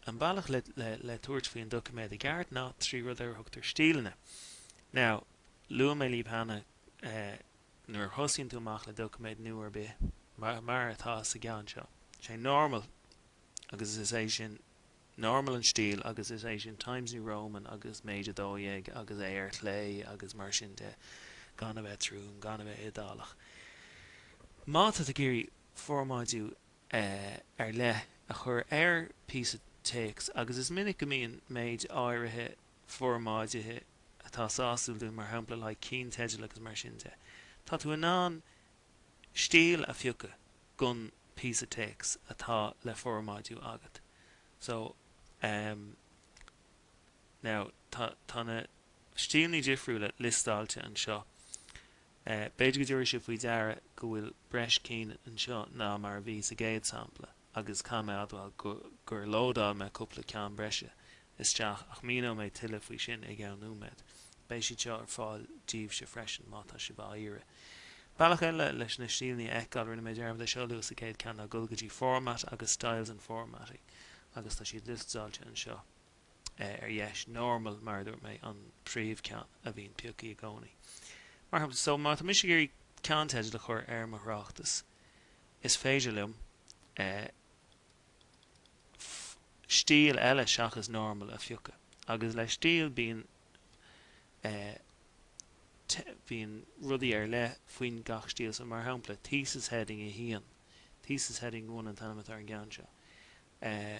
an bealach le tabhairt faoin doiciméad i gceart ná trí rud ar thugtar stíleanna. Now, luaigh mé libh cheana nuair a thosaíonn tú amach le doiciméad nua ar bith, mar atá sa gceann seo. Sé normal agus is é sin normal an stíl agus is é sin Times New Roman agus méid 12 agus é ar chlé agus mar sin de, gan a bheith trom, gan a bheith iodálach. Má tá tú ag iarraidh formáidiú ar leith a chur ar phíosa téacs agus is minic go mbíonn méid áirithe formáidithe atá sásúil dúinn, mar shampla like, cinnteidil agus mar sin de. Tá tú in ann stíl a phiocadh gon píosa téacs atá le formáidiú agat. So um now tá tá na stílní difriúla liostáilte anseo. B'fhéidir go dtabharfaidh sibh faoi deara go bhfuil breis cinn anseo ná mar a bhí sa gcéad sampla agus caithfidh mé a admháil gur lódáil mé cúpla ceann breise isteach ach míneoidh mé tuilleadh faoi sin i gceann nóiméid. Beidh siad seo ar fáil daoibhse freisin má tá sibh á iarraidh. Bealach eile leis na stíleanna a fheiceáil, rinne mé dearmad é seo a lua sa gcéad ceann, ná dul go dtí Format agus Styles and Formatting agus tá siad liostáilte anseo. ar dheis, normal mar a dúirt mé, an príomhcheann a bhíonn pioctha i gcónaí. Mar shampla, so má tá mise ag iarraidh ceannteideal a chur ar mo thráchtas, is féidir liom eh stíl eile seachas normal a phiocadh agus le stíl bíonn eh te, bíonn rudaí ar leith faoin gach stíl, so mar shampla, thesis heading a haon, thesis heading one an t-ainm atá ar an gceann seo. Eh.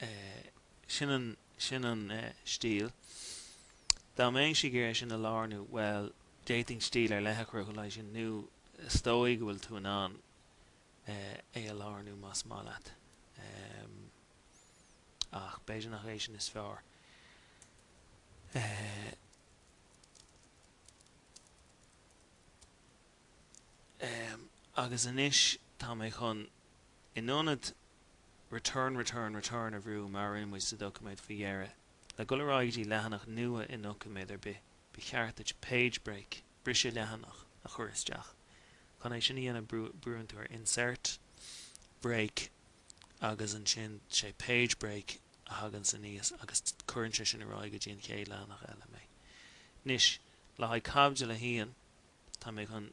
eh, sin an, sin an eh, stíl. Dá mbeinnse ag iarraidh sin a lárnú, bhuel, d'fhéadfainn stíl ar leith a chruthú le haghaidh sin, nó is dóigh go bhfuil tú in ann eh, é a lárnú más maith leat. Em. ach b'fhéidir nach é sin is fearr. Eh. Em. agus anois tá mé chun. In ionad return return return a bhrú mar a rinne muid sa doiciméad faoi dheireadh, le dul ar aghaidh go dtí leathanach nua i ndoiciméad ar bith, ba cheart duit page break, briseadh leathanach, a chur isteach. Chun é sin a dhéanamh brúann tú ar insert, break agus ansin sé page break a thaganns aníos agus cuireann sé sin ar aghaidh go dtí an chéad leathanach eile mé. Anois le haghaidh caibidil a haon tá mé chun.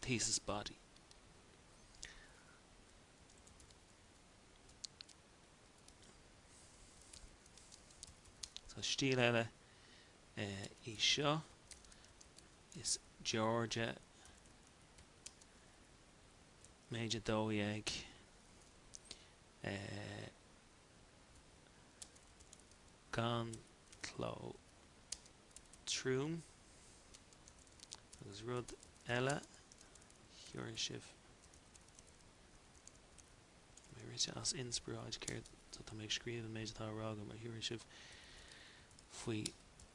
thesis body. Tá stíl eile í seo, is Georgia, méid 12, gan cló. trom agus rud eile tá mé rite as inspioráid céard sa tá mé ag scríobh an méid atá á rá agam mar thabharfaidh sibh faoi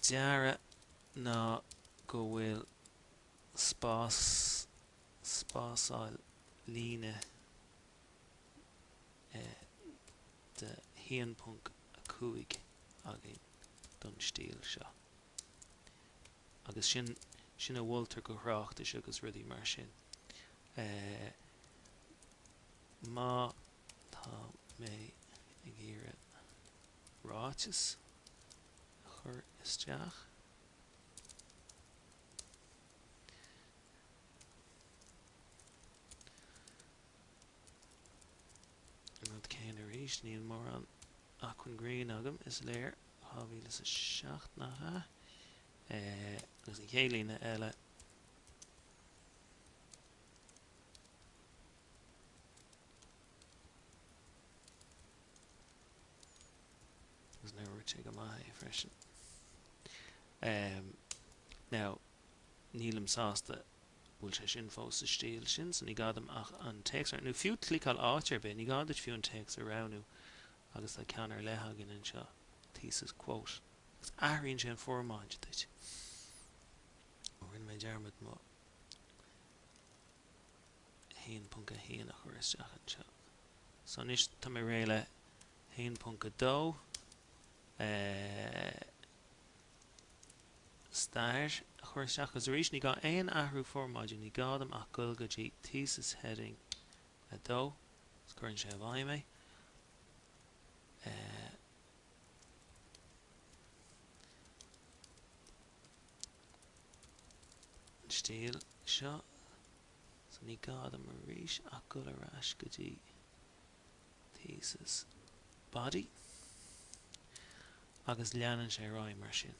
deara ná go bhfuil spás spásáil líne de 1.5 againn don stíl seo. Agus sin, sin a mholtar do thráchtais agus rudaí mar sin. Má tá mé ag iarraidh ráiteas a chur isteach, An rud céanna arís, níl mórán acmhainn grinn agam, is léir. 2007, nach ea? Agus an chéad líne eile. Agus nár dhúirt sé go maith é freisin. Now, nílim sásta bhfuil sé sin fós sa stíl sin so ní gá dom ach an téacs a, nó fiú cliceáil áit ar bith, ní gá duit fiú an téacs a roghnú agus tá ceann ar leith againn anseo, thesis, quote, agus athraíonn sé an fhormáid duit. Ó rinne mé dearmad mo 1.1 a chur isteach anseo. So anois tá mé réidh le 1.2. stair a chur isteach agus arís ní gá aon athrú formáide, ní gá dom ach goil go dtí Thesis Heading 2 agus cuireann sé i bhfeidhm é. An stíl seo so ní gá dom arís ach goil ar ais go dtí Thesis. Body. Agus leanann sé ar aghaidh mar sin.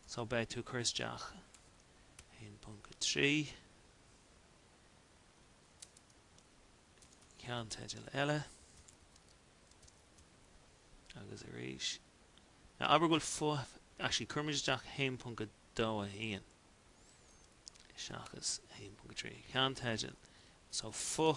So beidh tú ag cur isteach 1.3 ceannteidil eile agus arís. Now abair go bhfuil fo, actually cuirimid isteach 1.2.1 seachas 1.3 ceannteidil. So fo,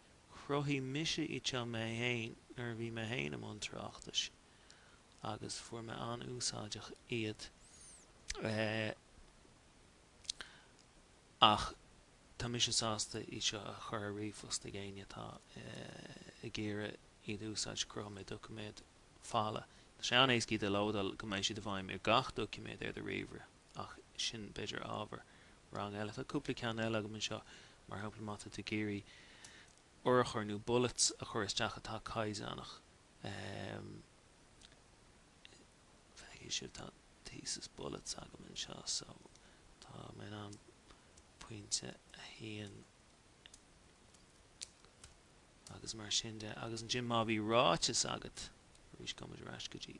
Chruthaigh mise iad seo mé fhéin nuair a bhí mé fhéin i mbun tráchtais agus fuair mé an-úsáideach iad ach tá mise sásta iad seo a chur ar ríomhphost chuig éinne atá ag iarraidh iad a úsáid. Chruthaigh mé doiciméad folamh. Tá sé an-éascaí iad a lódáil go mbeidh siad i bhfeidhm ar gach doiciméad ar do ríomhaire. ach sin b'fhéidir ábhar rang eile. Tá cúpla ceann eile agam anseo, mar shampla má tá tú ag iarraidh urchar nó bullets a chur isteach atá caighdeánach, feicfidh sibh tá thesis bullets agam anseo, so tá mé in ann pointe a haon agus mar sin de. Agus ansin má bhí ráiteas agat arís, gabhfaimid ar ais go dtí.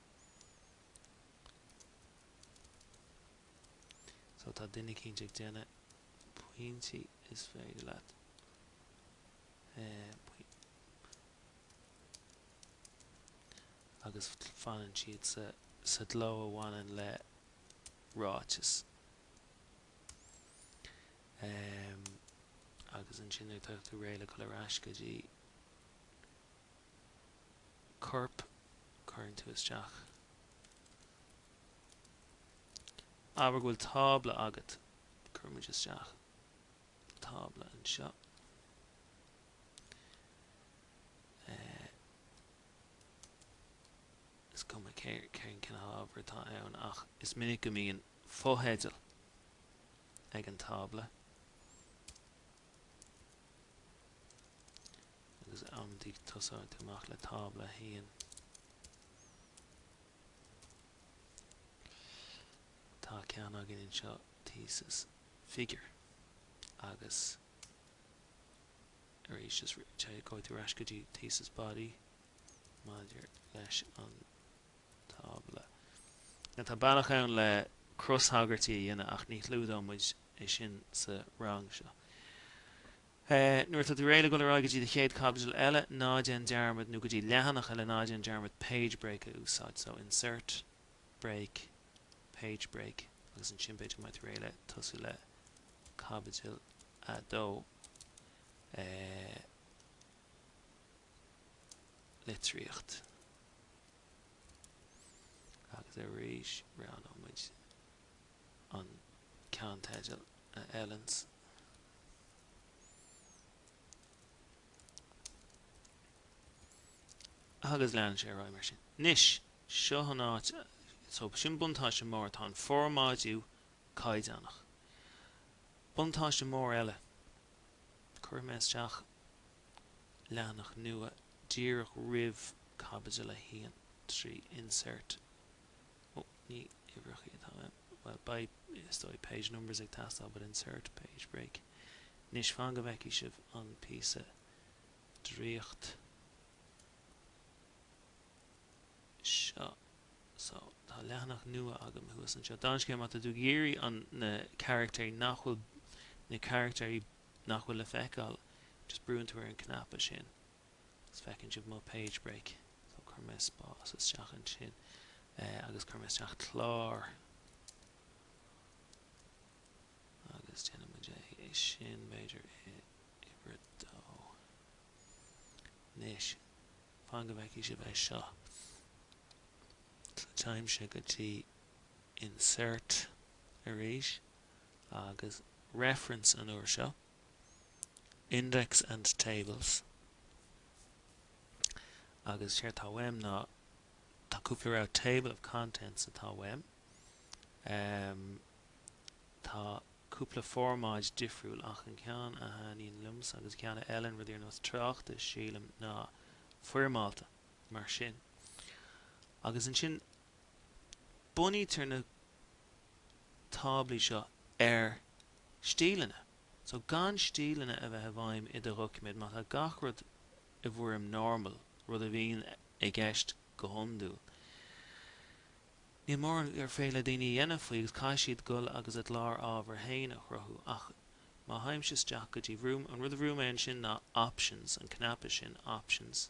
So tá duine cinnte ag déanamh pointí is féidir leat pointí agus fanann siad sa gcló a bhaineann le ráiteas agus ansin nuair atá tú réidh le gabháil ar ais go dtí corp cuireann tú isteach. Abair go bhfuil tábla agat. Cuirimid isteach tábla anseo. Is cuma cén cineál ábhair atá ann ach is minic go mbíonn fotheideal ag an tábla. agus abair tosaíonn tú amach le tábla 1. Tá ceann agam anseo Thesis Figure agus arís just gabhann tú ar ais go dtí Thesis Body maidir leis an tábla. Now tá bealach ann le cros-thagairtí a dhéanamh ach ní chlúdóidh muid é sin sa rang seo. e. Nuair atá tú réidh le dul ar aghaidh go dtí do chéad chaibidil eile, ná déan dearmad, nó go dtí leathanach eile, ná déan dearmad page break a úsáid. So, insert, break, page break agus ansin b'fhéidir go mbeidh tú réidh le tosú le caibidil a dó. e. Litríocht. Agus arís, roghnóimid. an ceannteidil a fheileanns agus leanann sé ar aghaidh mar sin. Anois, seo an áit, so sin buntáiste mór, tá an formáidiú caighdeánach. Buntáiste mór eile, cuirfidh mé isteach leathanach nua díreach roimh caibidil a haon trí insert. Ó, ní uimhreacha atá. Bhuel, beidh, is dóigh, page numbers ag teastáil but insert page break. Anois, fan go bhfeicfidh sibh an píosa draíocht seo. So, tá leathanach nua agam thuas anseo. Dála an scéil má tá tú ag iarraidh an, na carachtair nach bhfuil, na carachtair nach bhfuil le feiceáil, just brúann tú ar an cnaipe sin. Is feiceann sibh mo page break, so cuirfidh mé spás isteach ansin agus cuirfidh mé isteach clár agus déanfaidh muid é sin b'fhéidir i uimhir a dó. Anois, fan go bhfeicfidh sibh é seo, téimse go dtí insert arís agus reference an uair seo. Index and Tables agus séard tá uaim ná tá cúpla rogha Table of Contents atá uaim ehm tá cúpla formáid difriúil ach an ceann a thaitníonn liomsa agus ceann a fheileann rudaí ar nós tráchtais sílim ná foirmeálta mar sin agus ansin bunaítear na táblaí seo ar stíleanna. So gan stíleanna a bheith i bhfeidhm i do dhoiciméad, má tá gach rud i bhfoirm normal, rud a bhíonn i gceist go hiondúil, níl mórán ar féidir le daoine a dhéanamh faoi agus caithfidh siad dul agus a gclár ábhar féin a chruthú. Ach má théimse isteach go dtí, brúim, an rud a bhrúim ansin ná options, an cnaipe sin options.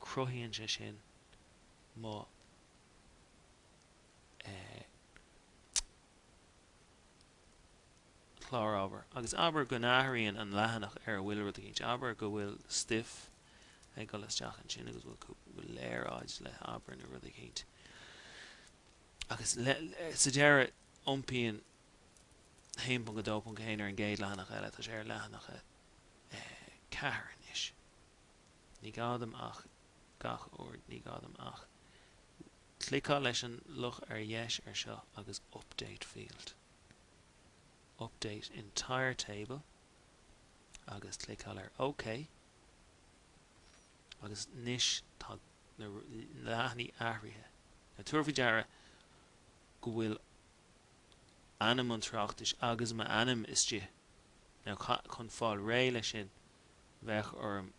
cruthaíonn sé sin mo chlár ábhair. Agus abair go n-athraíonn an leathanach ar a bhfuil rud éicint, abair go bhfuil stuif ag dul isteach ansin agus go bhfuil léaráid le abair nó rud éicint. Agus sa deireadh iompaíonn 1.2.1 ar an gcéad leathanach eile, tá sé ar leathanach a ceathair anois. Ní gá dom ach, gabh mo leithscéal, Ní gá dom ach cliceáil leis an luch ar dheis ar seo agus update field, update entire table agus cliceáil ar OK agus anois tá na leathanaigh athraithe. Now tabhair faoi deara go bhfuil ainm an tráchtais agus m'ainm istigh. Now chun fáil réidh leis sin, Bheadh orm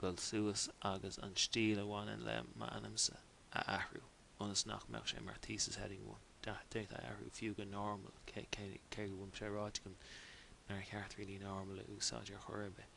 dul suas agus an stíl a bhaineann le m'ainmsa a athrú ionas nach mbeadh sé mar Thesis Heading 1. D'fhéadfainn é a athrú fiú go Normal, cé go bhfuil sé ráite agam nár cheart really Normal a úsáid ar chor ar bith.